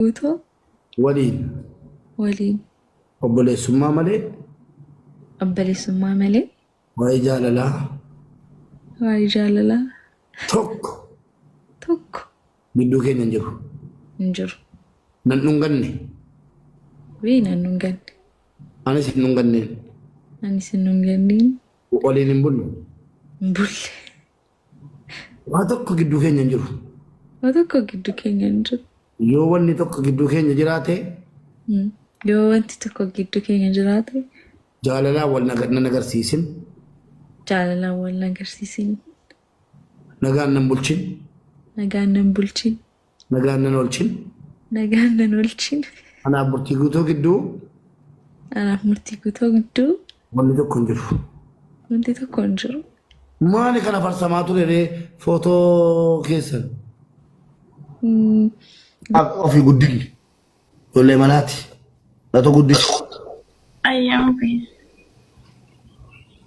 guutuu waliin waliin obboleessummaa malee obboleessummaa malee waa'ee jaalalaa waa'ee jaalalaa tokko tokko gidduu keenya hin jiru. hin jiru. Nan dhunganne Wii nan dhunganne. anis hin dhunganneen Anis hin dhunganneen waliin hin bullu. hin bulle. Waa tokko gidduu keenya hin jiru. Waa tokko gidduu keenya hin jiru. Yoo wanni tokko gidduu keenya jiraate. Hmm. Yoo wanti tokko gidduu keenya jiraate. Jaalalaa wal nan agarsiisin. Jaalalaa wal nan agarsiisin. Nagaan nan bulchin. Nagaan nan bulchin. Nagaan nan oolchin. Nagaan nan oolchin. Anaaf murtii guutuu gidduu Anaaf murtii guutuu gidduu wanni tokko hin jiru. wanti tokko hin jiru. Maali kana farsamaa ture ree footoo keessan? Mm, Ofii guddinni. Ijoollee manaati. Lato guddisi. Ayyamu fi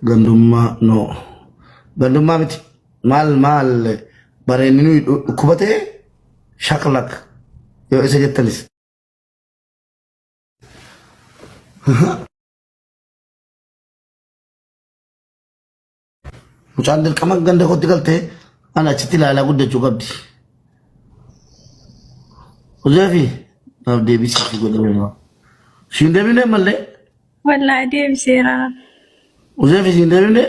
Gandummaa noo. Gandummaa miti. Maal maal bareenni nuyi dhu- dhukkuba ta'e shaklak yoo isa jettanis. Mucaan dirqama ganda kootti galtee an achitti ilaalaa guddachuu qabdi. Hojeefi naaf deebisii fi godhama. Siin deebinee mallee Wallaahi deebiseera. hojeefi siin deebinee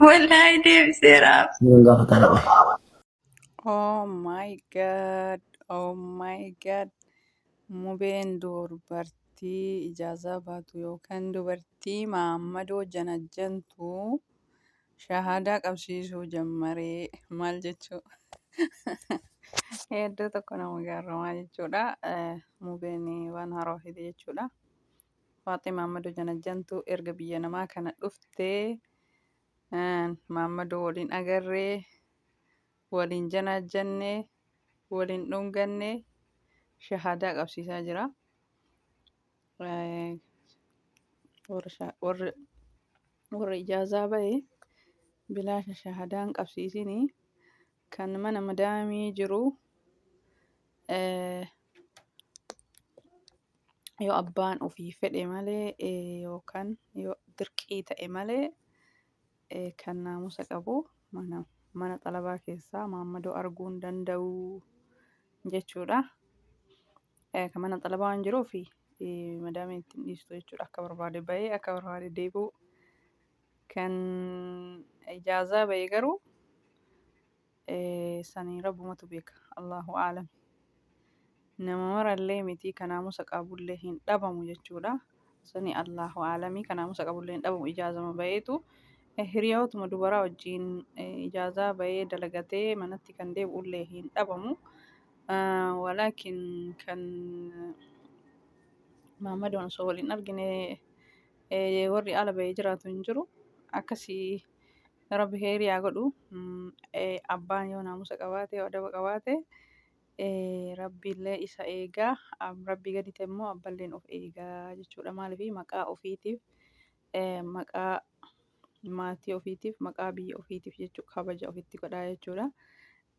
Wallaahi deebiseera. siin gaafataa dha. Oh my god, oh my god. Mubeen dubartii ijaazaa baatu yookaan dubartii maammadoo janajjantu shahaadaa qabsiisuu jammaree maal jechuu hedduu tokko nama gaarramaa jechuudha. Eh, Mubeen waan haaraa fide jechuudha. Faaxee maammadoo janajjantu erga biyya namaa kana dhuftee Maammadoo waliin agarree, waliin janaajjanne, waliin dhunganne shahaadaa qabsiisaa jira. Eh, Warra sha- warra warra ijaazaa ba'e bilaasha shahaadaan qabsiisini kan mana madaamii jiru eh, yoo abbaan ofii fedhe malee yookaan yoo dirqii ta'e malee kan naamusa qabu mana mana xalabaa keessaa maammadoo arguu hin danda'u jechuudha. Kan mana xalabaa waan jiruuf madaamii ittiin dhiistu jechuudha akka barbaade bahee akka barbaade deebi'u. Kan ijaazaa bahee garuu sani rabbumatu beeka Allahu aalami nama marallee mitii ka naamusa qabullee hin dhabamu jechuudha sani Allahu aalami ka naamusa qabullee hin dhabamu ijaazama bayeetu hiriyootuma dubaraa wajjiin ijaazaa bayee dalagatee manatti kan deebi'ullee hin dhabamu walaakin kan maammadoon osoo wal hin argine warri ala bayee jiraatu hin jiru akkasii Rabbi kheyrii haa godhu. Mm, eh, Abbaan yoo naamusa qabaate, yoo adaba qabaate, eh, Rabbiillee isa eega. Ab- Rabbii gadi ta'e immoo abballeen of eega jechuudha. Maaliif maqaa ofiitiif, eh, maqaa maatii ofiitiif, maqaa biyya ofiitiif jechuu kabaja ofitti godhaa jechuudha.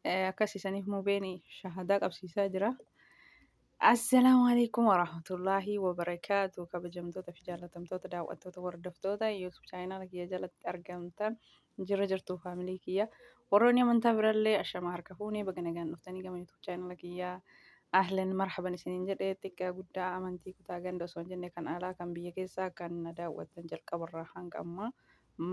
Eh, akkas isaniif mubeen shahadaa qabsiisaa jira. Assalaamu alaikum warahmatullaahi wabarakaatu kabajamtoota fi jaallatamtoota daawwattoota hordoftoota YouTube chaayinaala kiyya jalatti argamtan jirra jirtuu faamilii kiyya warroonni amantaa birallee ashama harka fuunee baga nagaan dhuftanii gama YouTube chaayinaala kiyya ahlan marhaban isiniin jedhe xiqqaa guddaa amantii kutaa ganda osoo hin jenne kan alaa kan biyya keessaa kan na daawwattan jalqabarraa hanga ammaa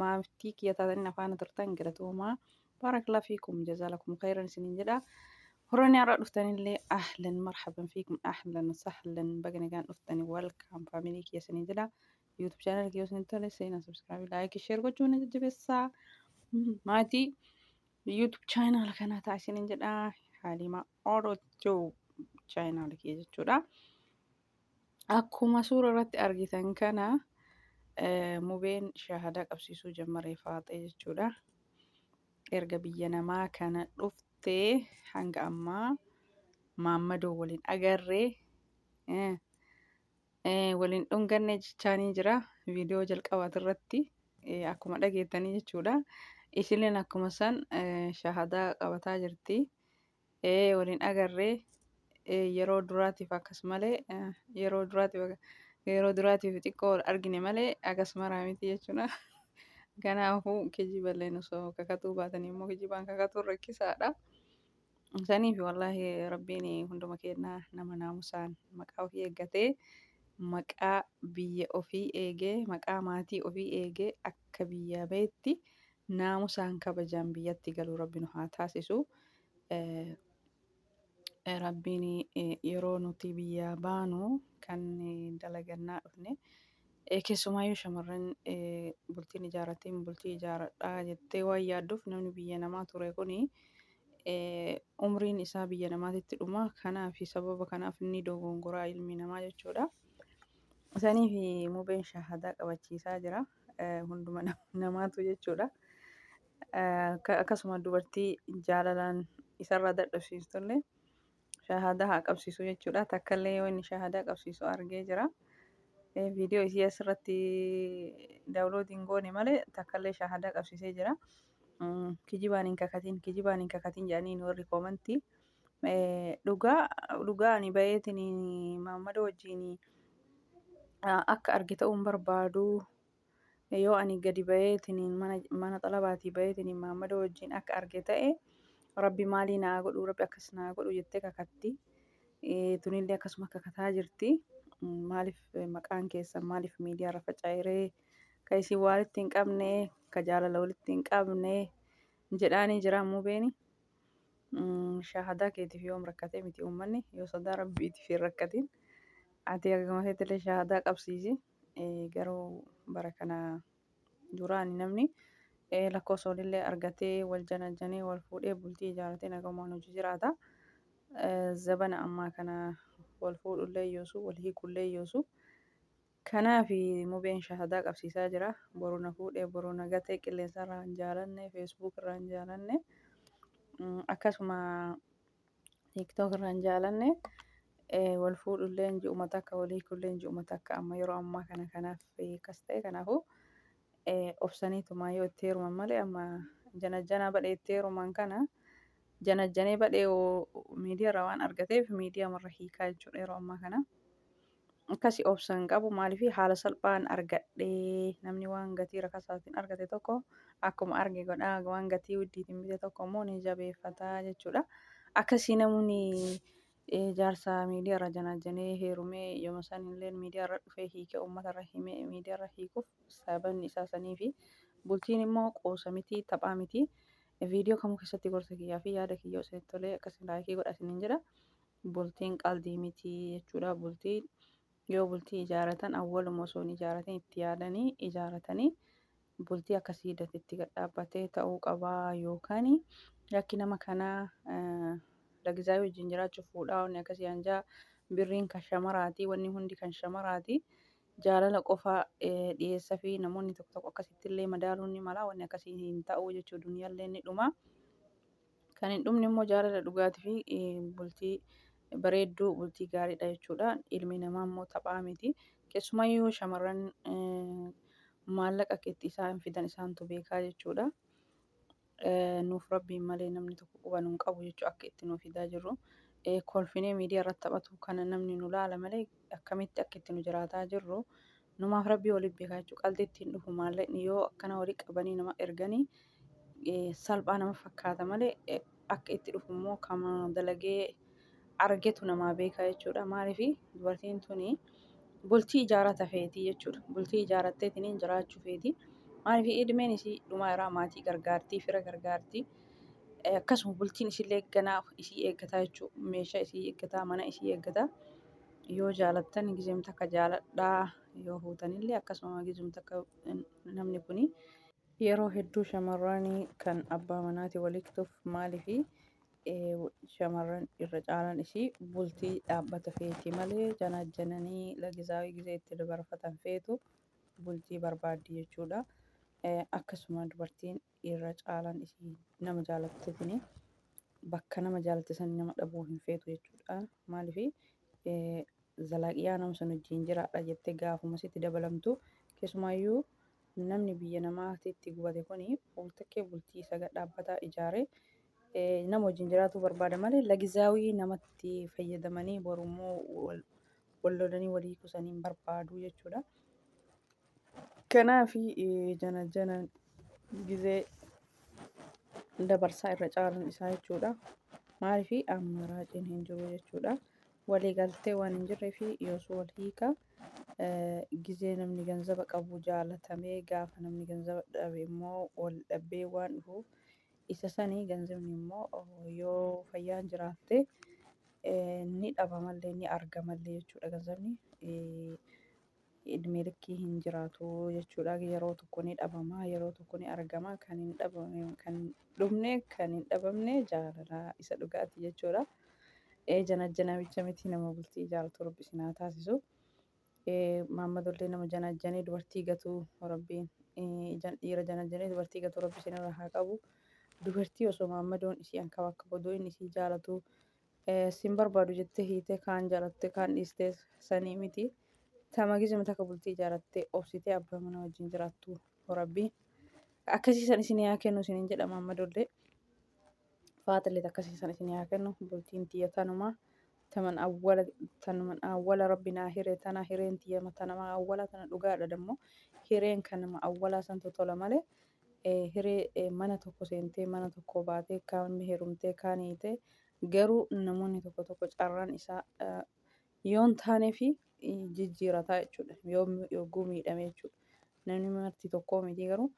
maamtii kiyya taatanii na faana turtan galatoomaa Baarakallaa fiikum jazaalakum khayran isiniin jedha. Warroonni har'a dhuftanillee ahlan marhaban fiikum ahlan sahlan baga nagaan dhuftani welcome family kiyya isiniin jedha. YouTube channel kiyya isinitti tole seenaa subscribe like share gochuun na jajjabeessaa. Mm, Maatii YouTube channel kanaa ta'a isiniin jedha. Haalimaa Oro Tube channel kiyya jechuudha. Akkuma suura irratti argitan kana mubeen shaahadaa qabsiisuu jammare faaxee jechuudha. Erga biyya namaa kana dhuftee hanga ammaa maammadoo waliin agarree waliin dhunganne jechaanii jira. Viidiyoo jalqabaati irratti akkuma dhageettanii jechuudha. Isilleen akkuma san shaahadaa qabataa jirti. Ee wal hin agarree yeroo duraatiif akkas malee yeroo duraatiif yeroo duraatiif xiqqoo wal argine malee akkas maraa miti jechuudha. Kanaafuu kijiballeen osoo kakatuu baatanii immoo kijibaan kakatuun rakkisaadha. Saniif wallaahi rabbiin hunduma kennaa nama naamusaan maqaa ofii eeggatee maqaa biyya ofii eegee maqaa maatii ofii eegee akka biyya beetti naamusaan kabajaan biyyatti galu rabbi nu haa taasisu rabbiin yeroo nuti biyyaa baanu kan dalagannaa dhufne keessumaayyuu shamarran bultiin ijaarratteen bultii ijaaradhaa jettee waan yaadduuf namni biyya namaa ture kun umriin isaa biyya namaatitti dhuma kanaaf sababa kanaaf inni dogongoraa ilmi namaa jechuudha. Isaniif mubeen shahadaa qabachiisaa jira. hunduma namaatu jechuudha. Akkasuma dubartii jaalalaan isarraa dadhabsiistullee shahaadaa haa qabsiisu jechuudha. Takkallee yoo inni shahaadaa qabsiisu argee jira. Viidiyoo isii asirratti daawuloodii hin goone malee takkallee shahaadaa qabsiisee jira. Kijibaan hin kakatin, kijibaan hin kakatin jedhaniin warri koomantii. Dhugaa dhugaa ani bayeetiin Muhammad wajjin akka arge ta'uun barbaadu yoo ani gadi bayeetiin mana mana xalabaatii bayeetiin Muhammad wajjin akka arge ta'e rabbi maalii naa godhu rabbi akkas naa godhu jettee kakatti tunillee akkasuma kakataa jirti maaliif maqaan keessan maaliif miidiyaa irra faca'iree ka isin waalitti hin qabne ka jaalala walitti hin qabne jedhaanii jira muubeeni. Shaahadaa keetiif yoom rakkatee miti uummanni yoo sodaa rabbiitiif hin rakkatiin ati akkuma feetillee shaahadaa qabsiisi garuu bara kana duraani namni lakkoofsa walillee argatee wal janajjanee wal fuudhee bultii ijaarratee nagamaan hojii jiraata zabana ammaa kana wal fuudhullee yoosu wal hiikullee yoosu Kanaafi mubeen shahadaa qabsiisaa jira. Boru na fuudhee boru na gatee qilleensarraa hin jaalanne, Facebook irraa hin jaalanne, akkasuma TikTok irraa hin jaalanne, wal fuudhullee ji'uma takka wal hiikullee ji'uma takka amma yeroo ammaa kana kanaaf akkas ta'e kanaafuu obsaniitumaa yoo itti heeruman malee amma janajjanaa badhee itti heeruman kana janajjanee badhee miidiyaa irraa waan argateef miidiyaa marra hiikaa jechuudha yeroo ammaa kana. Akkasi obsa hin qabu maaliif haala salphaan argadhe namni waan gatii rakasaatiin argate tokko akkuma arge godha waan gatii widdiitiin bite tokko immoo ni jabeeffata jechuudha. Akkasii namni jaarsa miidiyaarra janaajjanee heerumee yooma san illee miidiyaarra dhufee hiikee uummatarra himee miidiyaarra hiikuuf sababni isaa saniifi. Bultiin immoo qoosa miti taphaa miti. Viidiyoo kamuu keessatti gorsa kiyyaa fi yaada kiyya osoo tolee akkasiin laayikii godha isiniin jedha. bultiin qaldii miti jechuudha bultii yoo bultii ijaaratan awwaluma osoo hin ijaaratin itti yaadanii ijaaratanii bultii akka siidati itti gadhaabbatee ta'uu qabaa yookaan yakki nama kanaa lagizaa wajjin jiraachuuf fuudhaa wanni akkasii hanjaa birriin kan shamaraatii wanni hundi kan shamaraatii jaalala qofa dhiyeessa fi namoonni tokko tokko akkasitti illee madaaluun ni mala wanni akkasii hin ta'uu jechuu duniyaallee ni dhumaa. Kan hin dhumne immoo jaalala dhugaati fi bultii bareedduu bultii gaariidha jechuudha. Ilmi namaa immoo taphaa miti. Keessumayyuu shamarran maallaqa akka itti isaan fidan isaantu beekaa jechuudha. Nuuf rabbiin malee namni tokko quba nu hin qabu jechuudha akka itti nu fidaa jirru. Kolfinee miidiyaa irratti taphatu kana namni nu laala malee akkamitti akka itti nu jiraataa jirru Numaaf rabbii wali beeka jechu qaldi itti hin dhufu maalleqni yoo akkana wali qabanii nama erganii salphaa nama fakkaata malee akka itti dhufu immoo kama dalagee argetu namaa beeka jechuudha maaliif dubartiin tuni bultii ijaarata feetii jechuudha bultii ijaarattee tiniin jiraachuu feetii maaliif idmeen isii dhumaa irraa maatii gargaartii fira gargaartii akkasuma bultiin isillee ganaa isii eeggataa jechuu meeshaa isii eeggataa mana isii eeggataa yoo jaalattan gizem takka jaaladhaa yoo huutanillee akkasuma gizem takka namni kuni yeroo hedduu shamarranii kan abbaa manaati waliiktuuf maalifi shamarran irra caalan isii bultii dhaabbata feetii malee janaajjananii lagizaawii gizee itti dabarfatan feetu bultii barbaaddi jechuudha akkasuma dubartiin irra caalaan isii nama jaalatte tuni bakka nama jaalatte san nama dhabuu hin feetu jechuudha. Maaliif zalaaqiyaa nama sun wajjin jiraadha jettee gaafuma sitti dabalamtu keessumaayyuu namni biyya namaatitti gubate kun waltakkee bultii isa gad dhaabbataa ijaare nama wajjin jiraatuu barbaada malee lagizaawii namatti fayyadamanii borummoo wal lolanii walii kusanii hin barbaadu jechuudha. Kanaafi janajjana gizee dabarsaa irra caalan isaa jechuudha. Maaliifi ammaraaciin hin jiru jechuudha. Walii galtee waan hin jirree fi yoosuu wal hiika gizee namni ganzaba qabu jaalatamee gaafa namni ganzaba dhabe immoo wal dhabbee waan dhufuuf isa sanii ganzabni immoo yoo fayyaan jiraatte ni dhabamallee ni argamallee jechuudha ganzabni. idmee likkii hin jiraatu jechuudha yeroo tokko ni dhabama yeroo tokko ni argama kan hin dhabamne kan hin dhumne kan hin dhabamne jaalala isa dhugaati jechuudha ee janajja namicha miti nama bultii jaalatu rabbi isin haa taasisu ee maammadollee nama janajjanee dubartii gatuu rabbiin ee, jan- dhiira janajjanee dubartii gatuu rabbi isin irraa haa qabu dubartii osoo maammadoon isii akka bakka goduu inni isii jaalatu Sin barbaadu jettee hiitee kaan jaalattee kaan dhiistee sanii miti. Tama gizima takka bultii ijaarattee obsitee abbaa mana wajjin jiraattu rabbi. Akkasii san isin yaa kennu isinin jedha maammadollee. Faatilleet akkasii san isin yaa kennu bultiin tiyya tanuma. Taman awwala tanuman awwala rabbi naa hiree tana hireen tiyya tanama awwala tana dhugaadha dammoo hireen kanama awwalaa santu tola malee hiree mana tokko seentee mana tokkoo baatee kaan heerumtee kaan hiitee garuu namoonni tokko tokko carraan isaa yoon taanee fi jijjiirataa jechuudha. Yoo yogguu miidhame jechuudha. Namni marti tokkoo miti garuu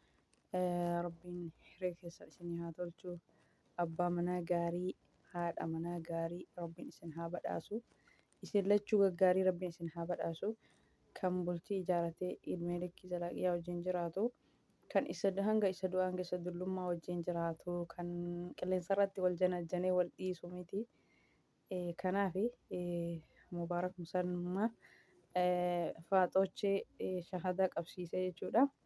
rabbiin hiree keessa isin haa tolchu. Abbaa manaa gaarii, haadha manaa gaarii rabbiin isin haa badhaasu. Isin lachuu gaggaarii rabbiin isin haa badhaasu kan bultii ijaaratee idmee likkii zalaaqiyaa wajjiin jiraatu kan isa hanga isa du'aan gessa dullummaa wajjiin jiraatu kan qilleensarratti wal janajjanee wal dhiisu miti kanaafi mubaarak musalmaa faaxoochee shahadaa qabsiisee jechuudha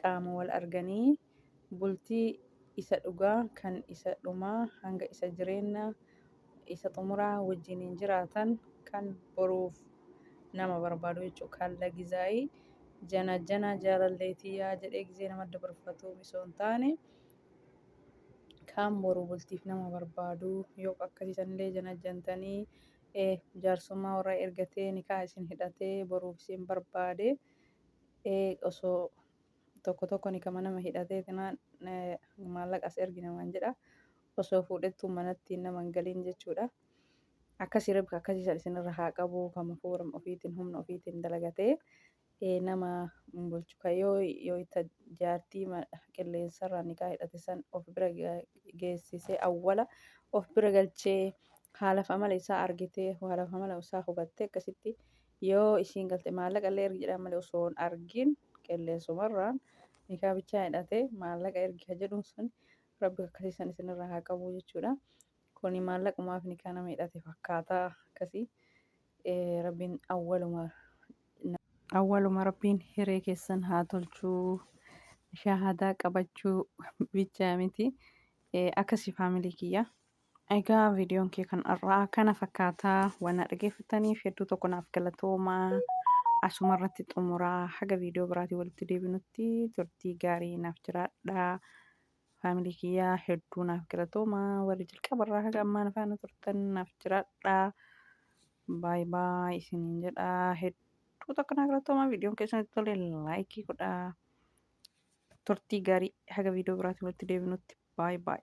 qaama wal arganii bultii isa dhugaa kan isa dhumaa hanga isa jireenna isa xumuraa wajjiniin jiraatan kan boruuf nama barbaadu jechuu kaalla gizaayii jana jana jaalallee tiyyaa jedhee gizee nama dabarfatu misoon taane kaan boruu bultiif nama barbaadu yoo akkasii sanillee jana jantanii jaarsummaa warra ergatee nikaa isin hidhatee boruuf isin barbaade ee osoo tokko tokko nikama nama hidhatee tinaan maallaqa as ergi namaan jedha osoo fuudhettuu manatti nama hin galiin jechuudha akkasii rabbi akkasii san isinirra haa qabu kama fooram ofiitiin humna ofiitiin dalagatee ee nama hin bulchu ka yoo yoo itta jaartii ma- qilleensarraa nikaa hidhate san of bira ga- geessisee awwala of bira galchee haalaf amala isaa argitee haalaf amala isaa hubattee akkasitti Yoo ishiin galte maallaqa illee ergi jedhaan malee osoo hin argin qilleensumarraan nikaa bichaa hidhatee maallaqa ergi ka jedhuun sun rabbi akkasiisan isinirraa haa qabu jechuudha. Kuni maallaqumaaf nikaa nama hidhate fakkaata akkasii rabbiin awwaluma awwaluma rabbiin hiree keessan haa tolchuu shahaadaa qabachuu bichaa miti akkasii faamilii kiyya. Egaa viidiyoon kee kan har'aa kana fakkaataa waan na dhageeffataniif hedduu tokko naaf galatoomaa asuma irratti xumuraa haga viidiyoo biraatiin walitti deebinutti turtii gaarii naaf jiraadhaa faamilii kiyyaa hedduu naaf galatoomaa warri jalqaba irraa haga ammaa na faana turtan naaf jiraadhaa baay baay isiniin jedhaa hedduu tokko naaf galatoomaa viidiyoon keessanitti tole laayikii godhaa turtii gaarii haga viidiyoo biraatiin walitti deebinutti baay baay.